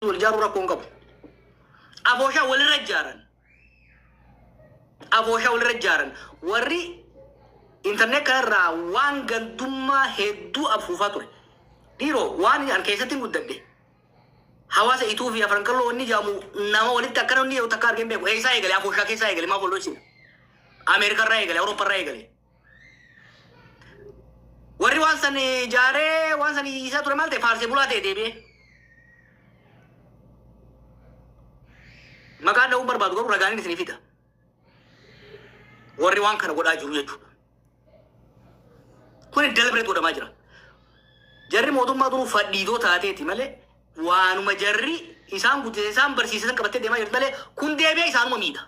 wal ijaaruu rakkoo hin qabu. Abooshaa walirra ijaaran. Abooshaa walirra ijaaran. Warri intarneet kanarraa waan gandummaa hedduu afuufaa ture. Dhiiroo waan an keessatti hin guddadhe. Hawaasa ituu fi afran qalloo wanni jaamu nama walitti akkana wanni yoo takka argeen beeku. Eessaa eegale abooshaa keessaa eegale maaf wal dhoysina. Ameerikarraa eegale Awuroopparraa eegale. Warri waan san ijaaree waan san iyyisaa ture maal ta'e faarsee bulaa ta'e deebi'ee. Maqaa dha'uu barbaadu garuu ragaanin isinii fida. Warri waan kana godhaa jiru jechuudha. Kun deliberate godhamaa jira. Jarri mootummaa duruu fadhiidoo taateeti malee waanuma jarri isaan guddise isaan barsiisan qabattee deemaa jirti malee kun deebi'ee isaanuma miidha.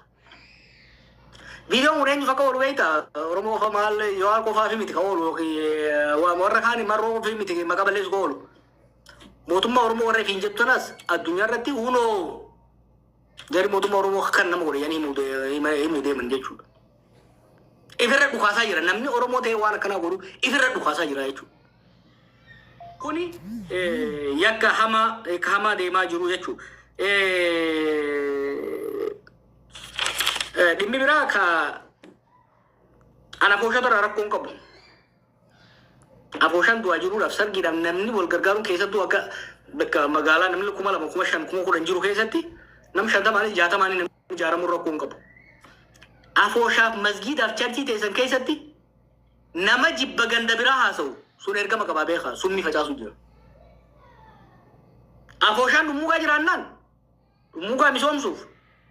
Viidiyoon kun eenyuuf akka oolu beekta? Oromoo qofa maal yoo qofaa fi miti ka oolu yookiin waa warra kaan marroo fi miti maqaa balleessu ka oolu. Mootummaa Oromoo warra ifiin jettu tanas addunyaa irratti unoo jarri mootummaa Oromoo kan nama godhe yanii himuu deeman jechuudha. Ifirra dhukaasaa jira namni Oromoo ta'e waan akkanaa godhu ifirra dhukaasaa jira jechuudha. Kuni yakka hamaa yakka hamaa deemaa jiru jechuudha. Dhimmi biraa ka an afooshaatu irraa rakkoo hin qabu. Afooshaan du'aa jiruudhaaf sargiidhaaf namni wal gargaaruun keessattuu akka bakka magaalaa namni kuma lama kuma shan kuma kudhan jiru keessatti nam shantamaanis jaatamaanis namni ijaaramuun rakkoo hin qabu. Afooshaaf masgiidaaf charchii teessan keessatti Nama jibba ganda biraa haasa'u sun ergama qabaa beekaa summii facaasuu jira. Afooshaan dhummuugaa jiraannaan dhummuugaa misoomsuuf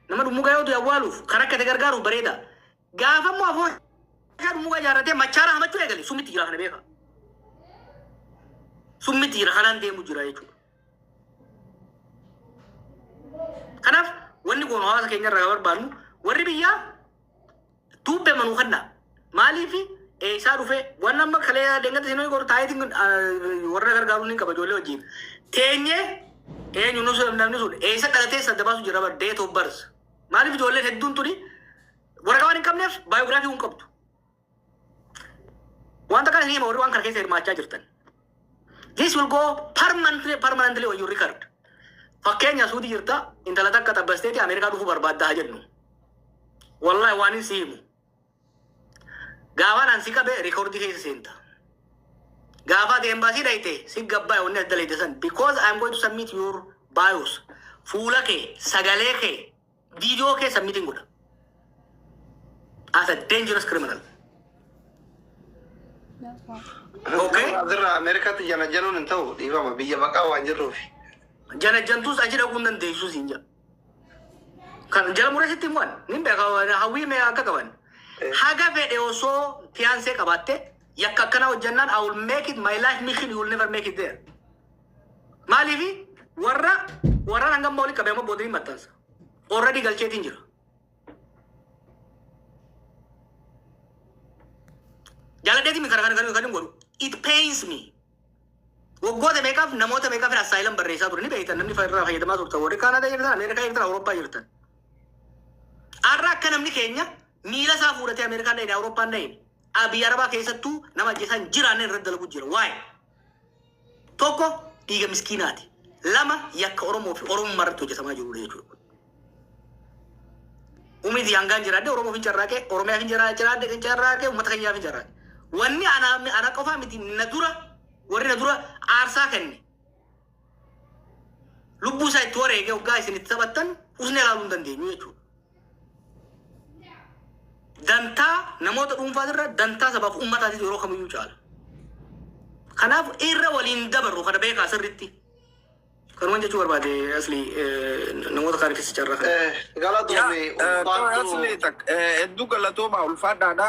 nama dhummuugaa yoo du'e awwaaluuf kan rakkate gargaaruuf bareeda. Gaafa immoo afooshaa dhummuugaa ijaarratee machaara hamachuu eegale summitti jira kana beekaa. Summitti jira kanaan deemu jira jechuudha. Kanaaf wanni kun hawaasa keenya irraa barbaannu warri biyyaa Tube manu kanna maaliifi eessaa dhufee waan amma kalee dengata sinoo goru taayitiin warra gargaaruu ni qaba ijoollee wajjin teenyee eenyu nusu namni sun eessa dhalatee sadda baasu jira bar date of birth maaliif ijoolleen hedduun tuni waraqaa waan hin qabneef baayogiraafii hin qabdu wanta kana ni hima warri waan kana keessa hirmaachaa jirtan This will go permanently, permanently on your record. Fakkeenya suuti jirta intala takka xabbasteeti Ameerikaa dhufuu barbaadda haa jennu. Wallahi waan hin si himu. Gaafaan an si qabe rikoordii keessa seenta. Gaafa ati embaasii dhayte si gabbaa wanni as dalayte san because I am going to submit your bios. Fuula kee, sagalee kee, Video kee submitting godha. As a dangerous criminal. Okay. Asirraa Ameerikaatti jana januun hin ta'u dhiifama biyya baqaa waan jirruuf. Jana jantuus achi dhaquu hin dandeessu siin jedha. Kan jala murasitti immoo ni beeka hawwii mee akka qaban. Haga fedhe osoo fiyaansee qabaatte yakka akkanaa hojjannaan I will make it my life mission you will never make it there. Maaliif warra warraan hanga ammaa walitti qabee amma boodiriin maxxansa. Already galcheetiin jira. Jaaladheetii mi kana kana kana kan hin godhu. It pains me. Waggoota meeqaaf namoota meeqaaf assaayilam barreessaa ture ni beektan namni irraa fayyadamaa turtan warri Kaanaadaa jirtan Ameerikaa jirtan Awurooppaa jirtan. Har'a akka namni keenya miila isaa fuudhatee Ameerikaan dhahine Awurooppaan dhahine Abiy Arabaa keessattuu nama ajjeesaan jiraanne irratti dalagu jira. Waa'ee. Tokko dhiiga miskiinaati. Lama yakka Oromoo fi Oromummaa irratti hojjetamaa jirudha jechuudha. Umrii fi hangaan jiraadde Oromoof hin carraaqe, Oromiyaaf hin jira- jiraadde hin carraaqe, uummata keenyaaf hin carraaqe. Wanni ana, ana qofaa miti na dura warri na dura aarsaa kenne. lubbuu isaa itti wareegee hoggaa isin itti taphattan usnee ilaaluu hin dandeenyu jechuudha. Dantaa namoota dhuunfaa irra dantaa sabaaf ummataatiif yeroo kamiyyuu caala. Kanaaf irra waliin dabarru kana beekaa sirriitti. Kanuman jechuu barbaade asli namoota kaaniifis carraa kana. Yaa, eh, Galatoomi eh, ulfaadhu. asli tak- eh, hedduu galatoomaa ulfaadhaadha.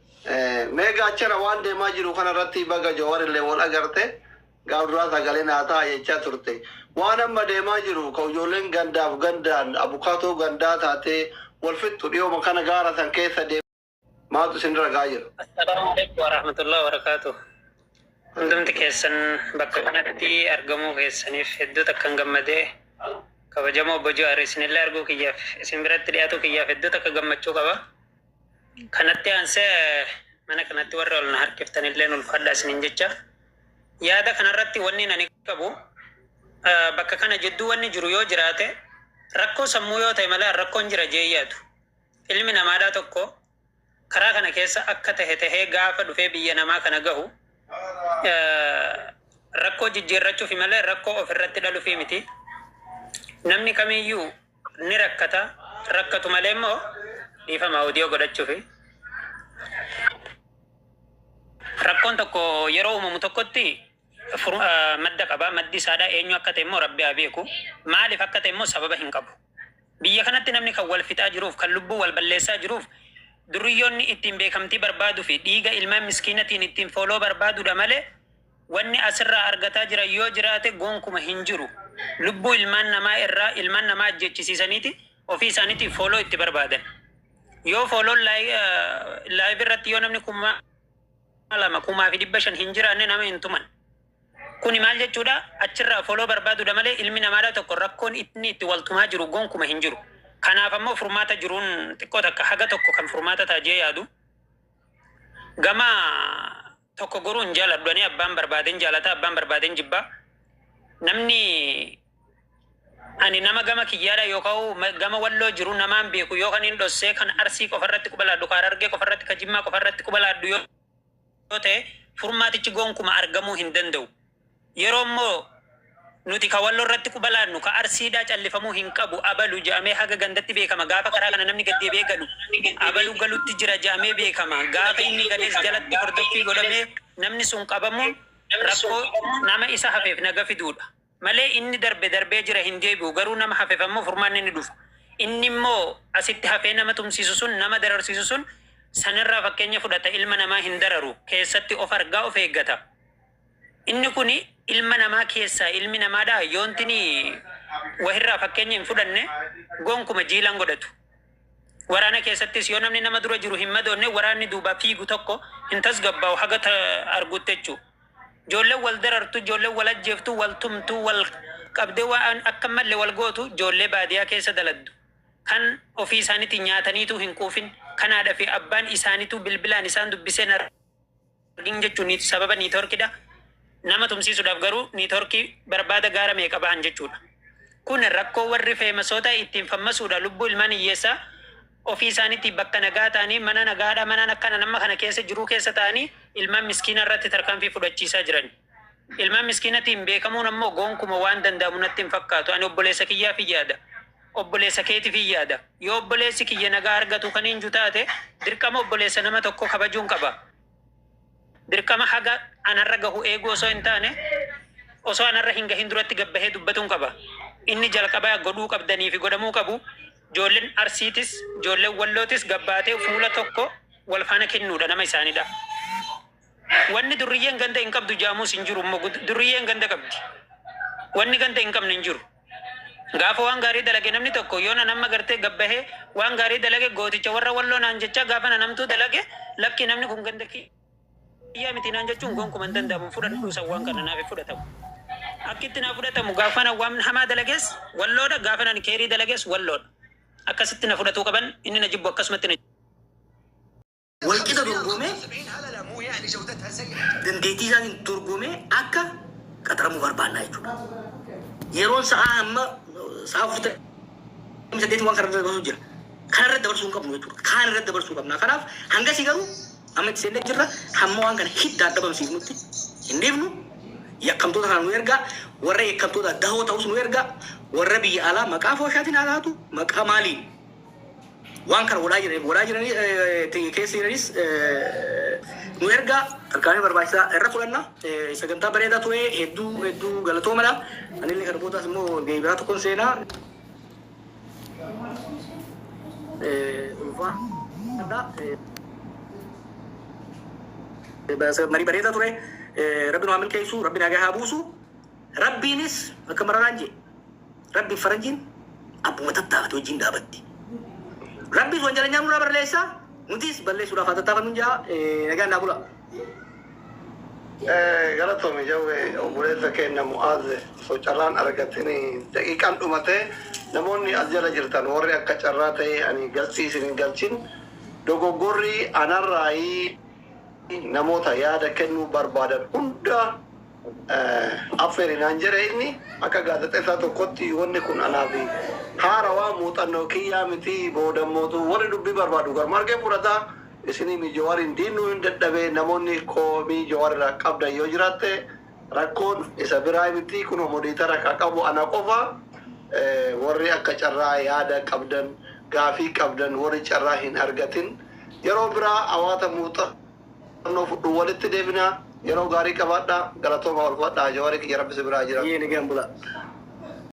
Mee Gaachana waan deemaa jiru kana irratti baga Jawar illee wal agarte gaaf duraa sagalee naa ta'a jechaa turte. Waan amma deemaa jiru ka ijoolleen gandaaf gandaan abukaatoo gandaa taatee wal fixxu dhiyooma kana gaara san keessa deemaa maaltu isin irra ga'aa jira? Assalaamu alaikum warahmatullahi wabarakatuh. Hundumti keessan bakka kanatti argamuu keessaniif hedduu takkan gammadee kabajamoo Obbo Jawaar isinillee arguu kiyyaaf isin biratti dhiyaatu kiyyaaf hedduu takka gammachuu qaba. Kanatti aansee mana kanatti warri ol na harkiftanilleen ulfaadhaa isiniin jecha. Yaada kanarratti wannin ani qabu bakka kana jidduu wanni jiru yoo jiraate rakkoo sammuu yoo ta'e malee an rakkoon jira jee hin yaadu. Ilmi namaadhaa tokko karaa kana keessa akka tahe tahee gaafa dhufee biyya namaa kana gahu rakkoo jijjiirrachufi malee rakkoo ofirratti dhalufii miti. Namni kamiiyyuu Ni rakkata rakkatu malee immoo dhiifama audio godhachuufi. Rakkoon tokko yeroo uumamu tokkotti furu- ah, madda qaba. Maddi isaadha eenyu akka ta'e immoo rabbi haa beeku. Maaliif akka ta'e immoo sababa hin qabu. Biyya kanatti namni kan wal fixaa jiruuf kan lubbuu wal balleessaa jiruuf duriyyoonni ittiin beekamtii barbaaduu fi dhiiga ilmaan miskiinatiin ittiin fooloo barbaadudha malee Wanni asirraa argataa jiran yoo jiraate gonkuma hin jiru. Lubbuu ilmaan namaa irraa ilmaan namaa ajjeechisiisaniiti ofii isaaniitiif follow itti barbaadan. Yoo follown live irratti yoo namni kuma lama kumaa fi dhibba shan hin jiraanne nama hin tuman. Kuni maal jechuudha? Achirraa follow barbaadudha malee ilmi namaadhaa tokko rakkoon inni itti wal tumaa jiru gonkuma hin jiru. Kanaaf ammoo furmaata jiruun xiqqoo takka haga tokko kan furmaata ta'a jee yaadu. Gama tokko goruu hin jaaladhu ani abbaan barbaaden jaalata abbaan barbaaden jibba namni ani nama gama kiyyaadha yookaan ma- gama walloo jiru namaan beeku yookaan hin dhossee kan arsii qofa irratti quba laadhu kan harargee qofa irratti kan jimmaa qofa irratti quba laadhu yoo yoo ta'e furmaatichi gonkuma argamuu hin danda'u Yeroo immoo nuti ka Walloo irratti quba laannu ka Arsii dha callifamuu hin qabu abalu jedhamee haga gandatti beekama gaafa karaa kana namni gad deebi'ee galu abalu galutti jira jedhamee beekama gaafa inni galees jalatti hordoffii godhamee namni sun qabamuun rakkoo nama isa hafeef naga fiduudha malee inni darbe darbee jira hin deebi'u garuu nama hafef ammoo furmaanni ni dhufa inni immoo asitti hafee nama tumsiisu sun nama dararsiisu sun sanirraa fakkeenya fudhata ilma namaa hin dararu keessatti of argaa of eeggata. Inni kun ilma namaa keessaa ilmi namaadha yoontini wahirraa fakkeenya hin fudhanne gonkuma jiila hin godhatu. Waraana keessattis yoo namni nama dura jiru hin madoonne waraanni duubaa fiigu tokko hin tasgabbaa'u haga ta arguutti jechuu. Joolleen wal darartu, joolleen wal ajjeeftu, wal tumtu, wal qabdee waan akka hin malle wal gootu joollee baadiyaa keessa daladdu. Kan ofii isaaniitii nyaataniituu hin quufin, kan haadha fi abbaan isaaniituu bilbilaan isaan dubbisee hin argin. Flooding jechuun sababa network dha. Nama tumsiisuudhaaf garuu network barbaada gaara meeqa bahan jechuudha. Kun rakkoo warri feemasoota ittiin fammasuudha lubbuu ilmaan hiyyeessaa ofii isaaniitii bakka nagaa ta'anii mana nagaadhaa manaan akkana nama kana keessa jiruu keessa ta'anii ilmaan miskiinaa irratti tarkaanfii fudhachiisaa jiran. Ilmaan miskiinatiin beekamuun ammoo goonkuma waan danda'amu natti hin fakkaatu. Ani obboleessa kiyyaafin yaada. Obboleessa keetifin yaada. Yoo obboleessi kiyya nagaa argatu kaniin ju taate, dirqama obboleessa nama tokkoo kabajuun qaba. Dirqama haga anarra gahu eeguu osoo hin taane, osoo anarra hin gahin duratti gad bahee dubbatuun qaba. Inni jalqabaa godhuu qabdaniifi godhamuu qabu, joollen Arsiitis, joollen Wallootis gad baatee fuula tokko wal faana kennuudha, nama isaanidha. Wanni durriyyeen ganda hin qabdu jaamus hin jiru immoo durriyyeen ganda qabdi. Wanni ganda hin qabne hin jiru. Gaafa waan gaarii dalage namni tokko yoon an amma gartee gad bahee waan gaarii dalage gooticha warra walloo naan jechaa gaafan an hamtuu dalage lakkii namni kun ganda kiyyaa miti naan jechuun gonkuma hin danda'amu hin fudhadhu san waan kana naaf hin fudhatamu. Akki itti naaf fudhatamu gaafan an waan hamaa dalages walloodha gaafan an keerii dalages walloodha. Akkasitti na fudhatuu qaban inni na jibbu akkasumatti na walqixa dorgomee dandeettii isaatiin dorgomee akka qaxaramuu barbaannaa jechuudha. Yeroon sa'aa amma sa'aa furte saddeetii waan kanarra dabarsuu jira. Kanarra dabarsuu hin qabnu jechuudha. Kaan irra dabarsuu qabna. Kanaaf hangasii garuu amma itti seennee jirra. Hamma waan kana hiddaan dhabamsiifnutti hin dhiifnu. Yakkamtoota kana nu ergaa. Warra yakkamtoota dahoo ta'us nu ergaa. Warra biyya alaa maqaa fooshaatiin haa taatu maqaa maaliin Waan kana godhaa jiraniif, godhaa jiranii ti keessa jiranis nu ergaa tarkaanfii barbaachisaa irra fudhanna. Sagantaa bareedaa ture. Hedduu hedduu galatoomadha. Anillee kana boodaas immoo gahee biraa tokkon seenaa. Ulfaadha. Marii bareedaa ture. Rabbi nu haa milkeessu. Rabbi nagaa haa buusu. Rabbiinis akka mararaan jee. Rabbiif faranjiin abbuma tattaafate wajjiin dhaabatti. Rabbiis wanjalanyaan nurraa barleessa, nutiis balleessuudhaaf haa tattaafannuun jaa nagaan naa bula. Galatomi jawwe obboleessa keenna mu'aaz osoo carraan argatin daqiiqaan dhumatee namoonni as jala jirtan warri akka carraa ta'ee ani galchii isin hin galchin dogoggorri anarraayi namoota yaada kennuu barbaadan hunda affeeri naan jedhe inni. Akka gaazexeessaa tokkotti wanni kun anaaf haarawaa, muuxannoo kiyyaa miti. Boodammootu warri dubbii barbaadu garuma argeen fudhata. Isiniimi Jawaariin diinnuun dadhabe. Namoonni komii Jawaar irraa qabdan yoo jiraatte rakkoon isa biraa miti. Kunoo modiitara ka qabu ana qofa. Warri akka carraa yaada qabdan, gaafii qabdan warri carraa hin argatin yeroo biraa hawaata muuxa. Qorannoo fudhu walitti deebinaa yeroo gaarii qabaadhaa galatoomaa ulfadhaa jawari kiyya rabbi si biraa jiradhu. Yee nagaan bulaa.